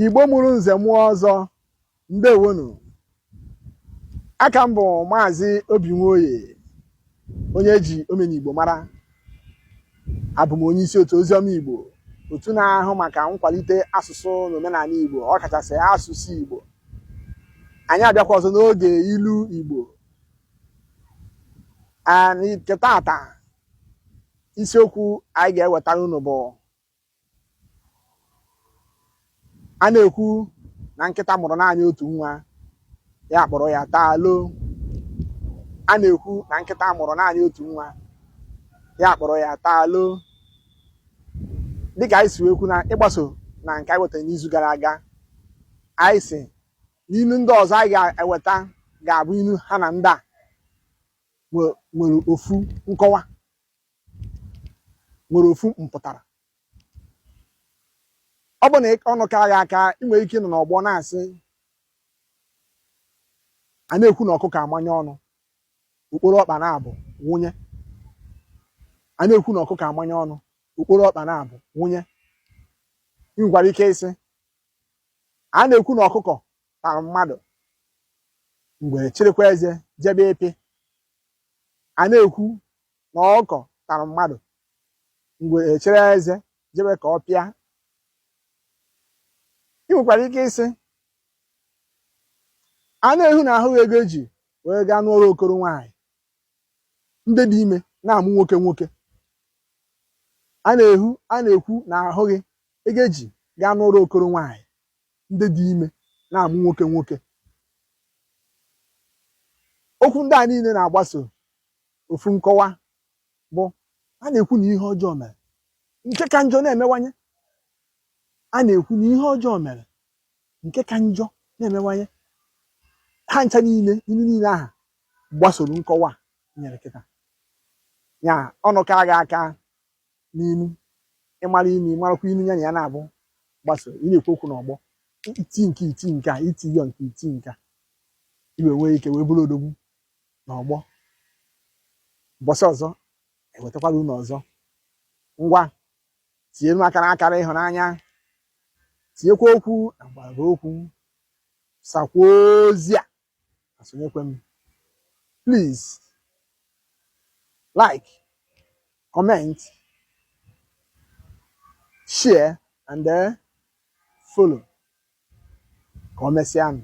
Igbo mụrụ nze mụọ ọzọ ndewonu aka m bụ maazị Obi Nwoye onye ji omenigbo mara abụ m onye isi otu oziọma Igbo otu na-ahụ maka nkwalite asụsụ na omenala Igbo ọ kachasị asụsụ Igbo anyị abịakwa ọzọ n'oge ilu Igbo nke taata isiokwu anyị ga-ewetara unu bụ a na-ekwu na nkịta mụrụ naanị otu nwa ya akpọrọ ya taa loo a na-ekwu na nkịta mụrụ naanị otu nwa ya akpọrọ ya taa loo dịka anyị si wee kwu na ịgbaso na nke anyị wetara n'izu gara aga anyị sị na ilu ndị ọzọ anyị ga-eweta ga-abụ ilu ha na ndị a nwere ofu nkọwa nwere ofu mpụtara ọ bụ na ọnụ ka a ga-aka ị nwere ike ịnọ n'ọgbọ na-asị a na-ekwu na ọkụkọ amanye ọnụ okporo ọkpa na-abụ nwunye a na-ekwu na ọkụkọ amanye ọnụ okporo ọkpa na-abụ nwunye ị nwekwara ike ịsị a na-ekwu na ọkụkọ tara mmadụ ngwere chịrịkwa eze jebe ịpị a na-ekwu na ọkụkọ tara mmadụ ngwere chịrị eze jebe ka ọ pịa ị nwekwara ike ịsị a na-ehu na ahụghị ego eji wee gaa nụọrọ okoro nwaanyị ndị dị ime na-amụ nwoke nwoke a na-ehu a na-ekwu na ahụghị ego eji gaa nụọrọ okoro nwaanyị ndị dị ime na-amụ nwoke nwoke okwu ndị a niile na-agbaso ofu nkọwa bụ a na-ekwu na ihe ọjọọ mere nke ka njọ na-emewanye a na-ekwu na ihe ọjọọ mere nke ka njọ na-emewanye ha ncha niile ilu niile a ha gbasoro nkọwa a nyere kịta ya ọnụ ka a ga-aka n'ilu ị mara ilu ị marakwa ilu ya na ya na-agbaso ị na-ekwu okwu n'ọgbọ iti nke iti nke a iti yọ nke iti nke a i wee nwee ike wee bụrụ odogwu n'ọgbọ ụbọchị ọzọ ewetakwara unu ọzọ ngwa tinyere m akara akara ịhụnanya tinyekwa okwu na mgbara okwu sakwa ozi a na sonyekwa m please like comment share and then follow ka o mesịanụ